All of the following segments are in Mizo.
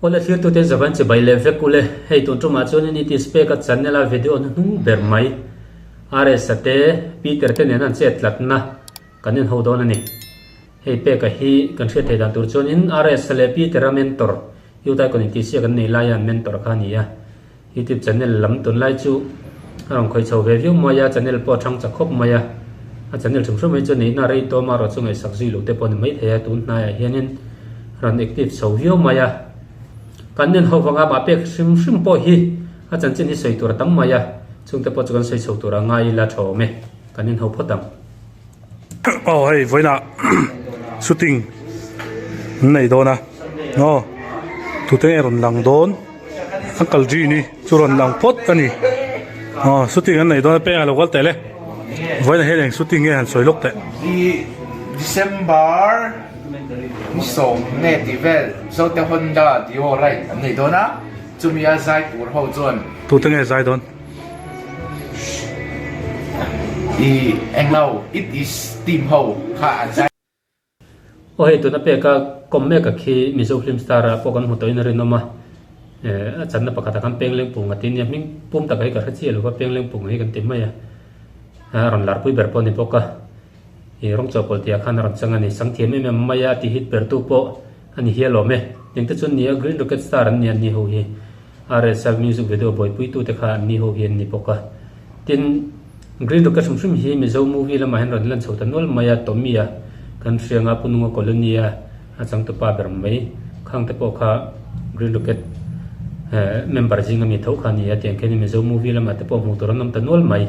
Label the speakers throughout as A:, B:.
A: Awle thirtute zava in chibai leh vek ule, hei tun tumah chuan i nis pek a channel a video an hnung ber mai, Aresa te Peter te nena an chet tlatna kan inho dawn a ni. Hei pek a hi kan hriat theih dan tur chuan in Aresa leh Peter a mentor Yu Taikon in tihsiak an nei laia an mentor kha a ni a. Youtube channel lam tun lai chu a rawn khawi chho ve viau mai a channel pawh a chhang chak khawp mai a a channel thum thum hi chu neihna rei tawm a erawh chu ngaihsak zui lo te pawh a ni maithei a tun hnaiah hianin rawn active chho viau mai a kan nen ho vang a mah pek hrim hrim pawh hi a chanchin hi sawi tur a tam mai a chhungte pawh chu kan sawi chho tur a ngai ila thawm e kan inho phawt ang.
B: aw hei vawiin ah shooting an nei dawn a aw tute nge rawn lang dawn uncle genie chu rawn lang phawt a ni aw shooting an nei dawn a peng a lo kal tehle vawiin ah hian eng shooting nge han sawi lawk teh December
C: ni sawm nge tih vel Zote Honda Dio Right an nei dawn a chumi a zai tur ho chuan tute nge zai dawn.
A: Aw hei tuna pek a kawm mek a khi Mizo film star ah pawh kan hmu tawhin a rinawm a a channa pakhat ah khan pengleng pung a ti nia hming pum takah hi ka hre chiah lo va pengleng pung hi kan ti mai a a rawn lar pui ber pawh a ni bawk a ih rawng chawhpawlh tih ah khan a rawn chang a ni sang thiam em em mai a tihit ber tu pawh-- A ni hial awm e. Engte chuan nia Green Rocket Star an ni an nih ho hi. RSL Music Video buaipuitute kha an nih ho hi an ni bawk a. Tin, Green Rocket hrim hrim hi Mizo movie lamah hian rawn lan chho ta nual mai a, Tommy a, kan hrianga Pununga Colony a, a changtu pa ber mai. Khangte pawh kha Green Rocket member zing a mi tho kha a ni a, tiang khian in Mizo movie lamah te pawh hmuh tur an awm ta nual mai.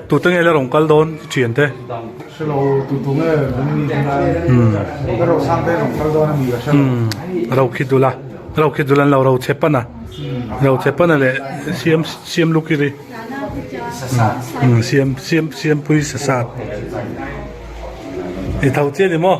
B: Tute nge la rawn kal dawn thian te. Hrelo
D: tutu nge min ni dawn a la ro sang te rawn kal dawn a ni ka hrelo. Ro khi dul a
B: ro khi dul an lo ro chhe pan a ro chhe pan a leh siam siam lu ki ri siam siam siam pui sasat ni tho chian ni maw.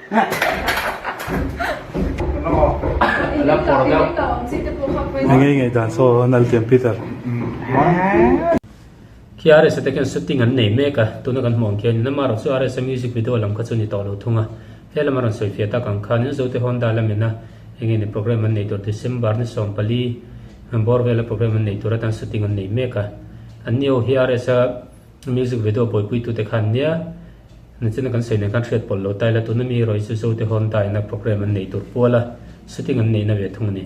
B: Engei ngei dan saw a nal tiam Peter.
A: Khi RSA te khian shooting an nei mek a, tuna kan hmuh ang khian in ama erawh chu RSA music video lam kha chu ni tawh lo thung a, he lam a rawn sawi fiah tak ang khan in Zote Honda la mena enge ni programme an nei tur December ni sawm pali bawr vela programme an nei tur atan shooting an nei mek a, an ni ho hi RSA. Music video pawipui tute khan nia nachina kan sawi nen khan hriat pawlh lo taila tuna mi erawh chu zote hawn daihna programme an nei tur kuala setting an neihna ve thung a ni.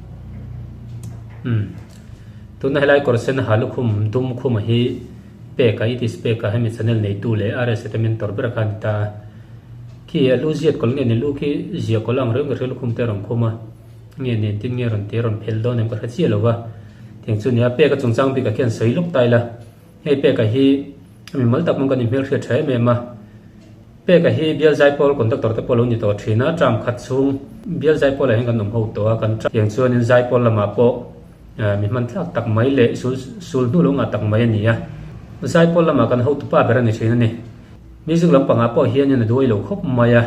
A: umm tuna helai kawr sen ha lukhum dum khum hi pek ah i ti spek ah hian mi channel neitu leh a resettlement tawrh ber a kha a ni ta a khi a lu ziat kawl nge ni lu khi zia kawl ang reng reng lukhum te a rawn khum a nge nen tin nge a rawn ti a rawn phel dawn em ka hre chiah lo va tiang chu nia pek a chungchang bik ah khian sawi lawk ta ila. Hei peka hi mi mal tak hmang kan inhmel hriat tha em em a, peka hi Bialzai Paul conductor te pawh lo ni tawh thin a, tram khat chhung Bialzai Paul ah hian kan awm ho tawh a, kan tram tiang chuan in Zai Paul lamah pawh mi hman thlak tak mai leh sul sul hnu lo ngah tak mai a ni a, Zai Paul lamah kan ho tu pa ber a ni thin a ni, music lam pangah pawh hian in a duai lo khawp mai a,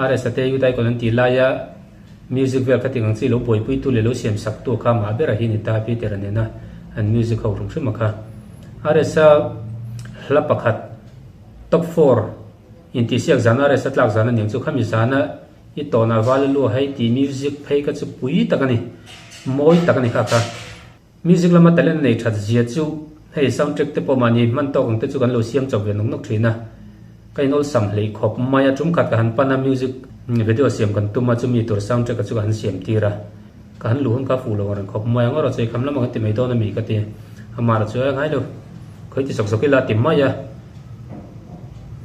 A: RSA te U Dai Kawl an tih lai a, Music vel ka tih ang chi lo buaipui tu leh lo siam sak tu kha mah berah hi ni ta Peter a nen a, an music ho hrim hrim a kha. A resa hla pakhat top four intihsiak zan a resa tlak zan aniang chu khami zana i tawnah vala lu a hai tih music phei kha chu pui tak a ni, mawi tak a ni kha a kha. Music lama talent nei that zia chu hei soundtrack te pawh mahni hman tawk ang te chu kan lo siam chauh ve nawk nawk thin a. Ka in awlsam hlei khawp mai a, tum khat ka han pan a music video siam kan tum a, chumi tur soundtrack chu ka han siam tir a. Ka han lu hun kha fuh lo ang reng khawp mai a, ngaw rawh chawi kham lamah kan ti mai dawn a mi ka ti. Amah rawh chu a ngai lo, khawi ti zawk zawk ila ti mai a.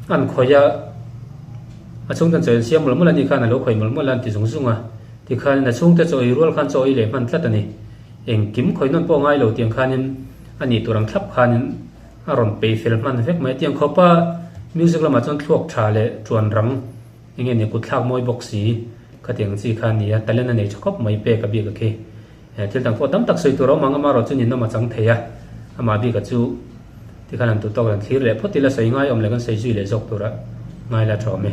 A: An khawih a, a chhungten chawiin a siam mawlh mawlh a, ni khan a lo khawih mawlh mawlh a an ti zung zung a. Tikhanin a chhungte chawi rual khan chawi leh hman tlat a ni. Engkim khawih nawn pawh a ngailo tiang khanin a nih tur ang thlap khanin a rawn pei fel hman vek mai a tiang khawp a, music lamah chuan thluak tha leh tuan rang eng nge ni kutthlak mawi bawk si ka ti ang chi kha nia, talent a nei tha khawp mai pek a bik a khi e, thil dang pawh tam tak sawi tur a awm ang a amarawh chu ninawm a chang thei a, amah bik a chu ti khan an tu tawk dan thlir leh phawt ila sawi ngai awm leh kan sawi zui leh zawk tur a ngai la thawm e.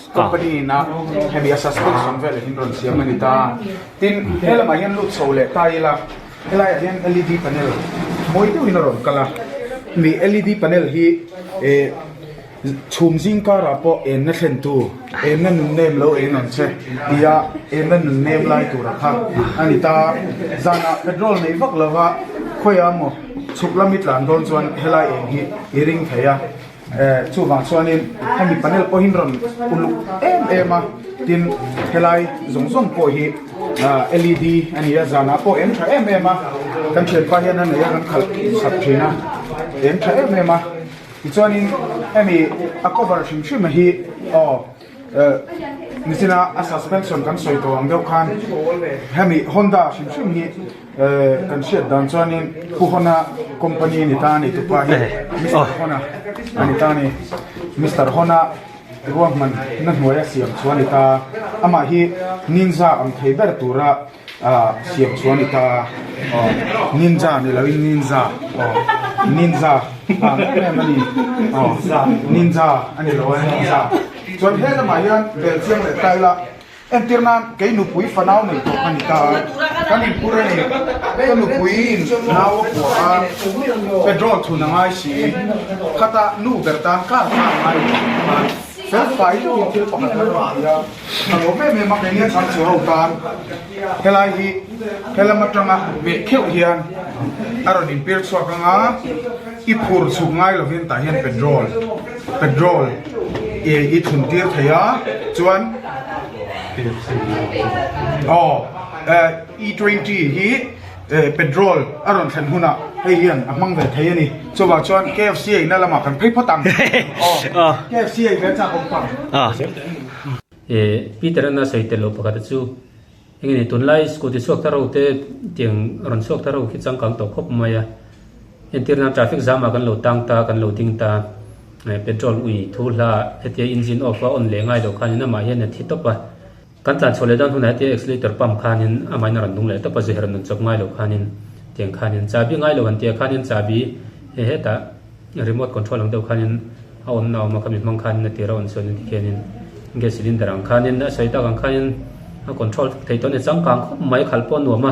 D: Company in a hemi a suspect zawng veleh hian rawn siam a ni ta. Tin, he lamah hian lut chho leh ta ila helaiah hian LED panel mawi deuhin a rawn kal a. Hemi LED panel hi chhum zing karah pawh enna thlentu, enna nun nem lo eng ang che tia enna nun nem lai tura kha a ni ta. Zanah petrol nei vak lova khawiha maw chhuk la mitlan dawn chuan helai eng hi i ring thei a. Chuvang chuanin hemi panel pawhin rawn uluk em em a, tin helai zawng zawng pawh hi LED a ni a, zanah pawh eng tha em em a, kan thianpa hian a neia kan khalh chhap thin a, eng tha em em a, tichuanin hemi a cover hrim hrim hi aw. Nisina a suspension kan sawi tawh ang deuh khan hemi Honda hrim hrim hi kan hriat dan chuanin Pu Hona company a ni ta a ni tupa hi Mister Hona a ni ta a ni Mister Hona ruahmanna hnuaia siam chu a ni ta a amah hi Ninja ang thei ber tura Ah siam chuan i ta a, aw ninja ni lo in ninja aw ninja ah mek em em a ni aw ninja a ni lo a ninja chuan he lamah hian bel chiang leh style a entir nan kei nupui fanau nei tawh a ni ta a kan in phur a ni ka nupui in nau a kuah a petrol chhun a ngai si khata nu ber tan kar kar a ngai leh fel fai lutuk in thil pakhat a rawn ti a. Ka rawh mek mek mak eng nge chhang chu ho tan helai hi helam atanga ve kheuh hian a rawn in per chhuak anga i phur chhuk ngai lovin tah hian petrol petrol i thun tir thei a chuan aw e twenty hi eh petrol a rawn thlen huna hei hian a hmang ve thei a ni chuvah chuan KFC eina lamah kan phei phawt ang aw KFC ei ve chak awm tak ah eh Peter a na sawi tel lo pakhat a chu eng nge tunlai scooty chhuak ta ro te tiang rawn chhuak ta ro khi changkang tawh khawp mai a entirna traffic
A: jam ah kan lo tang ta kan lo ding ta eh petrol ui thu hla ah hetia engine off a on leh ngai lo khan in amah hian a thi tawp a Kan tlan chhuah leh dan hunah hitia accelerator pump khanin a maina rawn dung leh tawp a, zui rawn nun chawp ngai lo khanin tiang khanin chabi ngai lo an tia khanin chabi he hetah remote control ang deuh khanin a awm na awm a, khami hmang khanin a tir a on
E: sawi nun ti khianin gas cylinder ang khanin a sawi tak ang khanin a control thei tawn a ni changkang khawp mai khalh pawh a nuam a.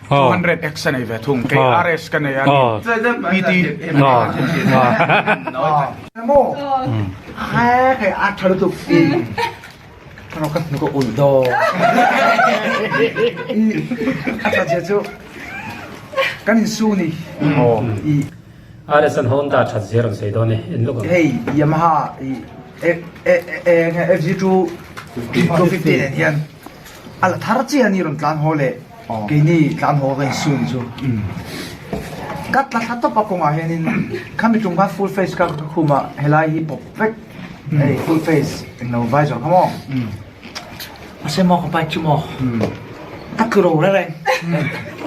D: two hundred X a nei ve thung kei RS ka nei a PT
F: emaw he kei a tha lutuk ka rawh ka hnu ka ulh daw i a tha zia chu kan in su ni i
A: RS an hawn ta that zia rawn sawi dawn e en lawk ang hei Yamaha
F: i e e e FZ2 250 nen hian a la thar chiah a ni rawn tlan haw le. Keini tlan haw avengin Sue-ni chu ka tla thla tawpa kawngah hianin khami tlung khan full face ka khum a, helai hi pawp vek hei full face englo vai zawrh kha maw? Mahse maw ka pai chu maw? Ka tlu ro reng reng.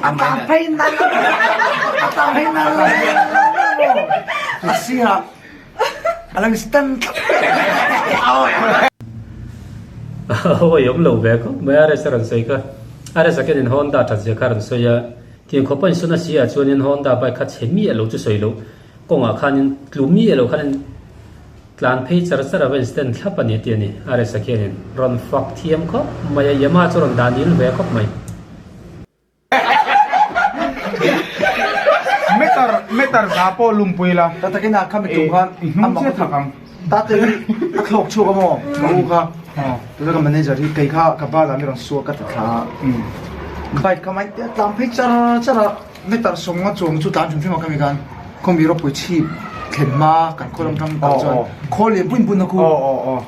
F: A tlan phei nal a, a tlan phei nal a, a sirah. a lang stan thlap Aw
A: a awm lo ve khawp mai a Ares a rawn sawi kha Ares a ken in Honda that zia kha rawn sawi a tiang khaw pawn suna si ah chuan in Honda bike kha chhe miah lo chu sawi loh kawng ah khan in tlu miah lo khan in tlan phei char char a va in stan thlap a ni tih a ni Ares a khian in rawn fak thiam khawp mai a Yamaha chu rawn dah nil ve khawp mai.
D: Meter za pawh lungpui la. Ka takin a kha mi tum
F: khan i hnung chiah thlak ang.
D: Tate hi
F: a thlawk chhuak a maw ka u kha. Tute ka manager hi kei kha ka bal ah mi rawn suak ka ti thla a. Bike ka manh tia tlang phei char char a meter sawmnga chuang chu tlan hrim hrim ang ka mi khan khaw mi ropui chhip thlen hma kan khaw lam tang tal chuan khaw leh bun bun a khu.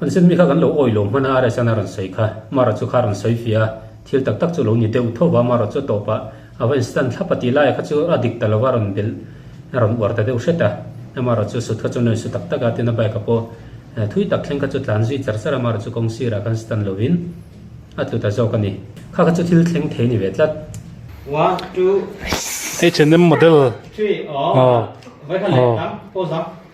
D: An senmi kha kan lo awi lo hman a, Reshana rawn sawi kha. Mara chu kha rawn
A: sawi fiah a, thil tak tak chu lo ni deuh tho va, Mara chu a tawp a, a va instant thlap a tih laia kha chu a dik ta lova rawn belh, a rawn uar ta deuh hret a. A Mara chu sut kha chu noise su tak tak a, tin a bike-a pawh thui tak thleng kha chu tlan zui char char a, Mara chu kawng sirah
G: khan stand lovin a tlu ta zawk a ni. Kha kha chu thil thleng thei ni ve tlat. H&M model.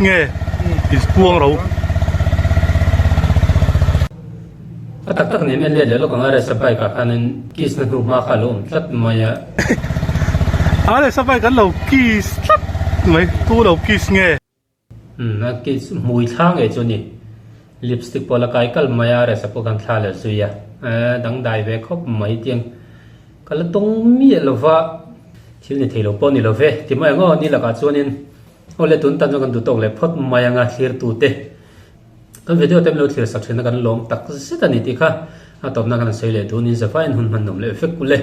B: Nge i spuang ro.
A: A tak tak nen a let leh lawk ang a resa bike ah khanin kiss na hnu hma kha alo awm tlat mai a.
B: A resa bike an lo kiss tlat mai tu lo kiss nge. Umm a kiss hmui thla ngei chu ni. Lipstick pawh la kai kal mai a resa pawh khan thla
A: la zui a eeh dangdai ve khawp mai tiang ka la tawng miah lova thil ni thei lo pawh a ni love ti mai ang aw ni lakah chuanin. Awle tun tan chuan kan duh tawk leh phawt mai anga thlir tu te kan video te milo thlir sak thin a kan lawm tak zet ani tih kha a tawp nan kan sawi leh dun in za faiin hun hman nawm leh vek uleh.